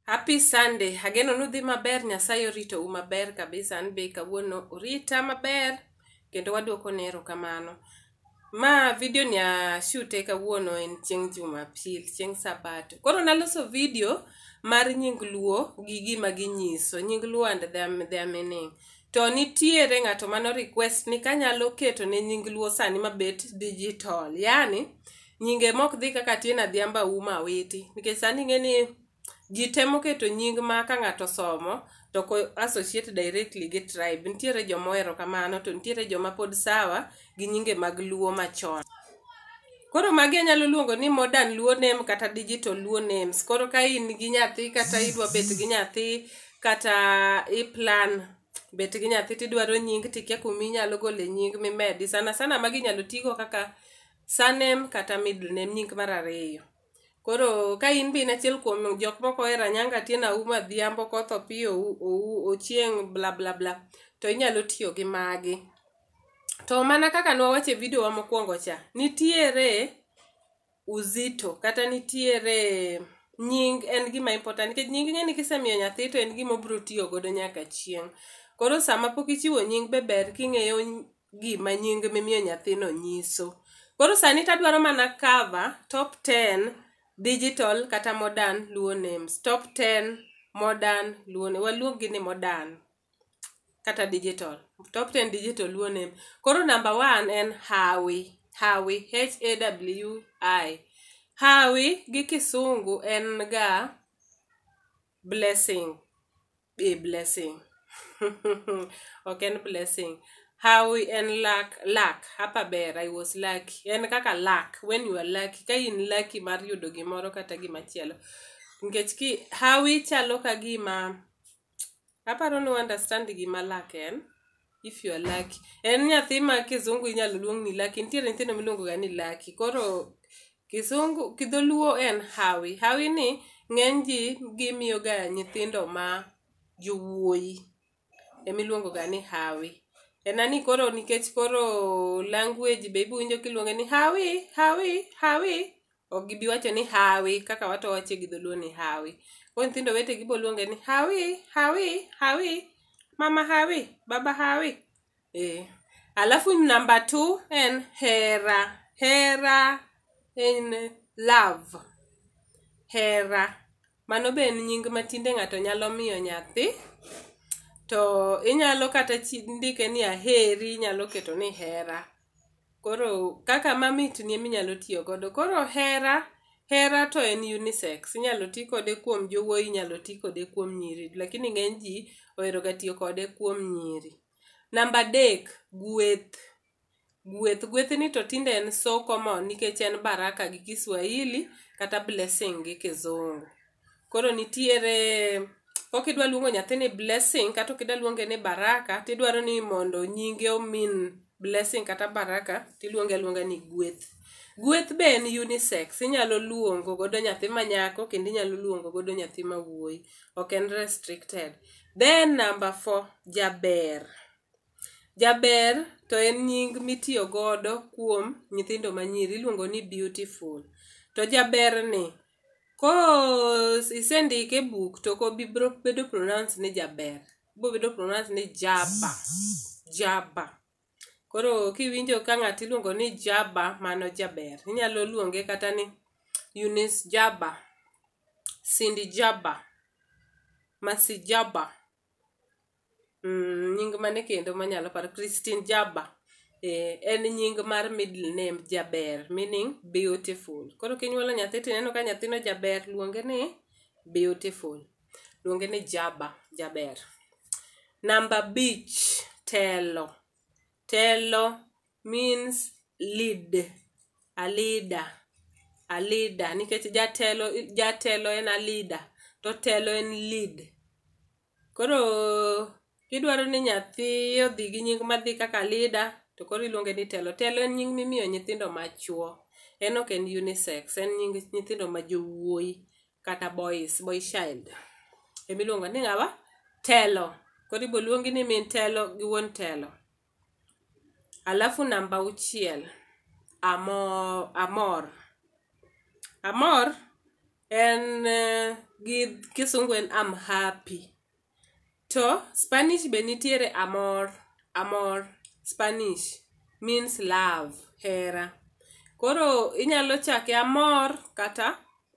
Happy Sunday. Ageno nudhi maber, Nyasaye orito u maber kabisa. An be kawuono orita maber kendo waduoko ne erokamano. Ma video ni ashute kawuono en chieng' Jumapil, chieng' Sabato. Koro naloso video mar nying luo gi gima ginyiso, nying luo and their, their meaning. To nitiere ng'ato mano request ni kanyalo keto ne nying luo sani mabet digital. Yani, nyinge mok dhi kaka tin adhiambo auma awiti nikech sani ing'e ni ji temo keto nying ma ka ng'ato somo to ko associate directly gi tribe nitiere joma ohero kamano to nitiere joma pod sawa gi nyinge mag luo machon koro magi anyalo luongo ni modern luo name kata digital luo names koro ka in gi nyathi kata idwa bet gi nyathi kata iplan bet gi nyathi tidwaro nying tikia kuma inyalo gole nying mimedi sana sana magi inyalo tigo kaka Surname kata middle name nying mar ariyo. Koro ka in be in achiel kuom jok moko ohero Anyango Atieno Auma Adhiambo koth Opiyo Ou- Ou- Ochieng bla bla bla to inyalo tiyo gi magi. To mana kaka nwawacho e video wa mokwongo cha, nitiere uzito kata nitiere nying en gima important nikech nying ing'e ni kisemiyo nyathi to en gima obiro tiyo godo nyaka chieng'. Koro sama pok ichiwo nying be ber king'eyo gima nying mimiyo nyathino nyiso koro sani tadwaro mana cover top 10 digital kata modern luo names top 10 modern luo ne waluongi ni modern kata digital top 10 digital luo name koro number 1 en hawi hawi h a w i hawi gi kisungu en ga blessing be a blessing ok en blessing how en luck luck hapa ber i was lucky en kaka luck when you are lucky ka in lucky mar yudo gimoro kata gimachielo nikech ki hawi chalo ka gima aparo ni understand gima luck en if you are lucky en nyathi ma kizungu inyalo luong ni laki nitiere nyithindo miluongo ga ni laki koro kizungu kidholuo en hawi hawi ni ng'eny ji gimiyo ga nyithindo ma jowuoyi emiluongo ga ni hawi ena ni koro nikech koro language be ibuwinjo kiluonge ni hawi hawi hawi ok gibi wacho ni hawi kaka wato wache gi dholuo ni hawi koro nyithindo wete gibo luonge ni hawi hawi hawi mama hawi baba hawi eh. alafu namba t en hera hera en love hera mano be en nying matinde ng'ato nyalo miyo nyathi to inyalo kata chi- ndike ni aheri inyalo keto ni hera koro kaka mamit ni minyalo tiyo godo koro hera hera to en unisex inyalo ti kode kuom jowuoyi inyalo ti kode kuom nyiri lakini ng'eny ji oheroga tiyo kode kuom nyiri namba adek gweth gweth gwethni to tinde en so common nikech en baraka gi kiswahili kata blessing gi kizungu koro nitiere ok idwa luongo nyathini blessing kata ok idwa luonge ni baraka tidwaro ni mondo nyinge omin blessing kata baraka tiluonge aluonga ni gweth gweth be en unisex inyalo luongo godo nyathi ma nyako kendo inyalo luongo godo nyathi ma wuoyi ok en restricted then number four jaber jaber to en nying mitiyo godo kuom nyithindo manyiri iluongo ni beautiful to jaberni Ko isendike e buk to ko bibro bedo pronounce ni jaber. Bo bedo pronounce ni jaba. Jaba. Koro kiwinjo ka ng'ato iluongo ni jaba mano jaber. Inyalo luonge kata ni Eunice jaba. Cindy jaba. Masi jaba. Mm, nying mane kendo manyalo paro Christine Jabba eh, en nying mar middle name Jaber meaning beautiful. Koro kinyuolo nyathi to ineno ka nyathino Jaber luonge ni beautiful. Luonge ni Jabba, Jaber. Namba abich telo. Telo means lead a leader a leader nikech jatelo jatelo en a leader to telo en lead koro kidwaro ni nyathi odhi gi nying madhi kaka leader to koro iluonge ni telo telo en nying mimiyo nyithindo machuo en ok en unisex en nying nyithindo ma jowuoyi kata boys boy child emiluongo ni ng'awa telo koro iboluongi ni min telo gi wuon telo Alafu namba auchiel, amor, amor. Amor en eh, gi kisungu en am happy. To Spanish be nitiere amor, amor, Spanish means love, hera. Koro inyalo chake amor kata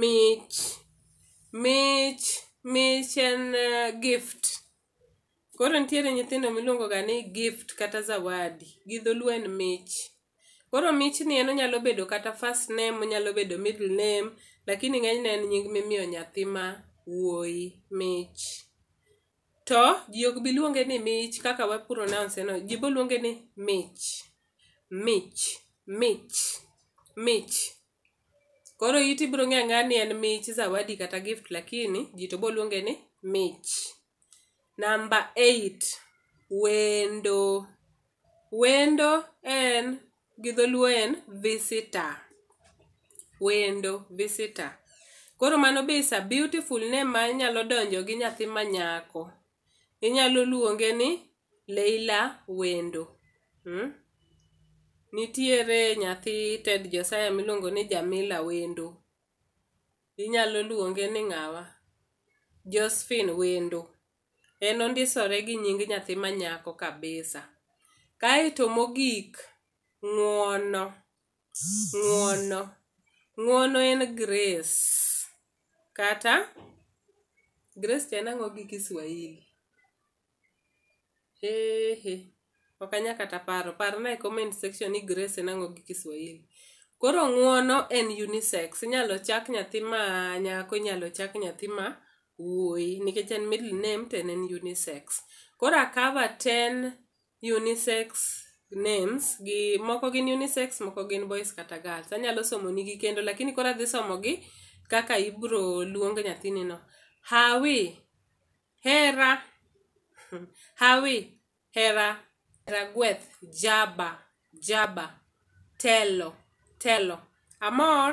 mich mich mich en uh, gift koro nitiere nyithindo miluongo ga ni gift kata zawadi gi dholuo en mich koro mich ni en onyalo bedo kata first name onyalo bedo middle name lakini ng'enyne en nying mimiyo nyathi ma wuoyi mich to ji ok bi luonge ni mich kaka wa pronounce no ji boluonge ni mich mich mich mich Koro iti biro ng'eyo ang'eya ni en mich, zawadi kata gift lakini ji to biro luonge ni mich. Namba eight, wendo. Wendo en gi dholuo en visitor. Wendo, visitor. Koro mano be is a beautiful name ma nyalo donjo gi nyathi ma nyako. Inyalo luonge ni Leila Wendo. Mm? Nitiere nyathi Ted Josiah miluongo ni Jamila Wendo. Inyalo luonge ni ng'awa? Josephine Wendo. En ondisore gi nying nyathi manyako kabisa. Kaeto mogik, ng'wono. ng'uono ng'uono en grace kata grace to en ang'o gi kiswahili hehe ok anya kata paro parna e comment section ni grace en ang'o gi kiswahili koro ng'uono en unisex inyalo chak nyathi ma nyako inyalo chak nyathi ma wuoyi nikech en middle name to en en unisex koro akava ten unisex names gi moko gin unisex moko gin boys kata girls anyalo somonigi kendo lakini koro adhi somogi kaka ibro luong nyathinino hawi hera hawi hera hera gweth jaba jaba telo telo amor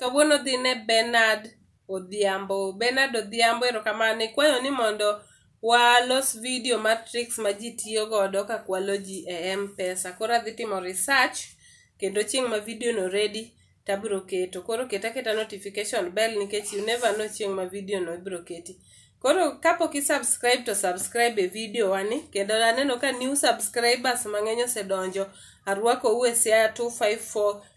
kawuono dhi ne Bernard Odhiambo. Bernard Odhiambo erokamano ikwayo ni mondo walos video mar tricks ma ji tiyo godo ka kwalo ji e M-Pesa. Koro adhi timo research kendo chieng' ma video no ready tabiro keto. Koro keta keta notification bell nikech you never know chieng' ma video no ibiro keti. Koro kapok i subscribe to subscribe e video wani kendo aneno ka new subscribers mang'eny osedonjo. Arwako u e Siaya 254